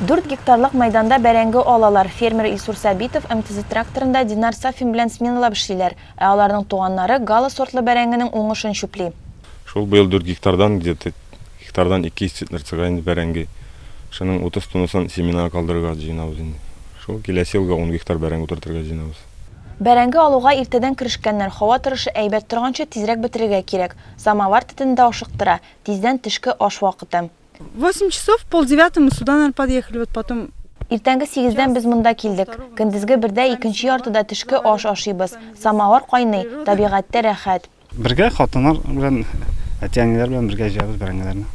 Дүрт гектарлык мәйданда бәрәңге алалар. Фермер Илсур Сабитов МТЗ-тракторында Динар Сафин белән сменалап эшлиләр. Ә аларның туганнары Гала сортлы бәрәңгенең уңышын чүпли. Шул быел дүрт гектардан где-то гектардан 200 центнер чыга инде бәрәңге. Шуның 30 тоннасын семенага калдырырга җыенабыз инде. Шул киләсе елга ун гектар бәрәңге утыртырга җыенабыз. Бәрәңге алуга иртәдән керешкәннәр, һава торышы әйбәт торганчы тизрәк бетерергә кирәк. Самовар төтене дә ашыктыра, тиздән төшке аш вакыты. Восемь часов, в полдевятому сюда, наверное, подъехали, вот потом. Иртәнге сигездән без монда килдек. Көндезге бердә, икенче яртыда төшке аш ашыйбыз. Самовар кайный, табигатьтә рәхәт. Бергә хатыннар белән, әти-әниләр белән бергә җыябыз бәрәңгеләрне.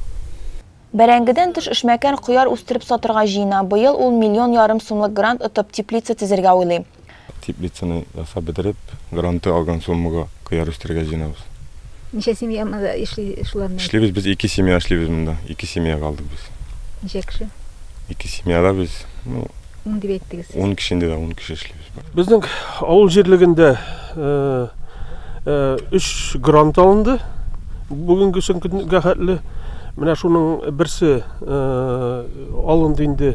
Бәрәңгедән тыш эшмәкәр кыяр үстереп сатырга җыена. Быел ул миллион ярым сумлык грант отып, теплица төзергә уйлый. Теплицаны ясап бетереп, гранты алган суммага кыяр үстерергә җыенабыз. Ничә семья монда эшли шуларны? Эшлибез без, ике семья эшлибез монда. Ике семьяга алдык без. Ничә кеше? Ике семьяда без, ну. Ун дип әйттегез сез. Ун кеше инде, да, ун кеше эшлибез. Безнең авыл җирлегендә өч грант алынды бүгенге көнгә хәтле. Менә шуның берсе алынды инде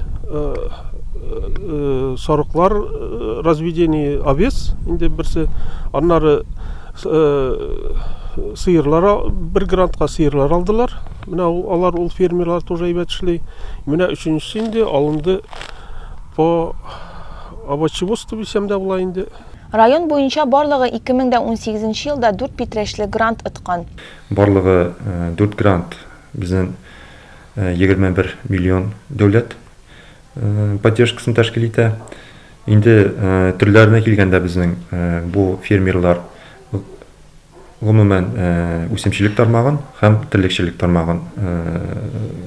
сарыклар разведение овец инде берсе. Аннары сыерлар бер грантка сыерлар алдылар. Менә алар ул фермерлар тоже әйбәт эшли. Менә өченчесе инде алынды По овощеводству дисәм дә була инде. Район буенча барлыгы 2018 нче елда дүрт питрәчле грант откан. Барлыгы дүрт грант безнен егерме бер миллион дәүләт поддержкасын тәшкил итә. Инде төрләренә килгәндә безнең бу фермерлар гомумән үсемчелек тармагын һәм терлекчелек тармагын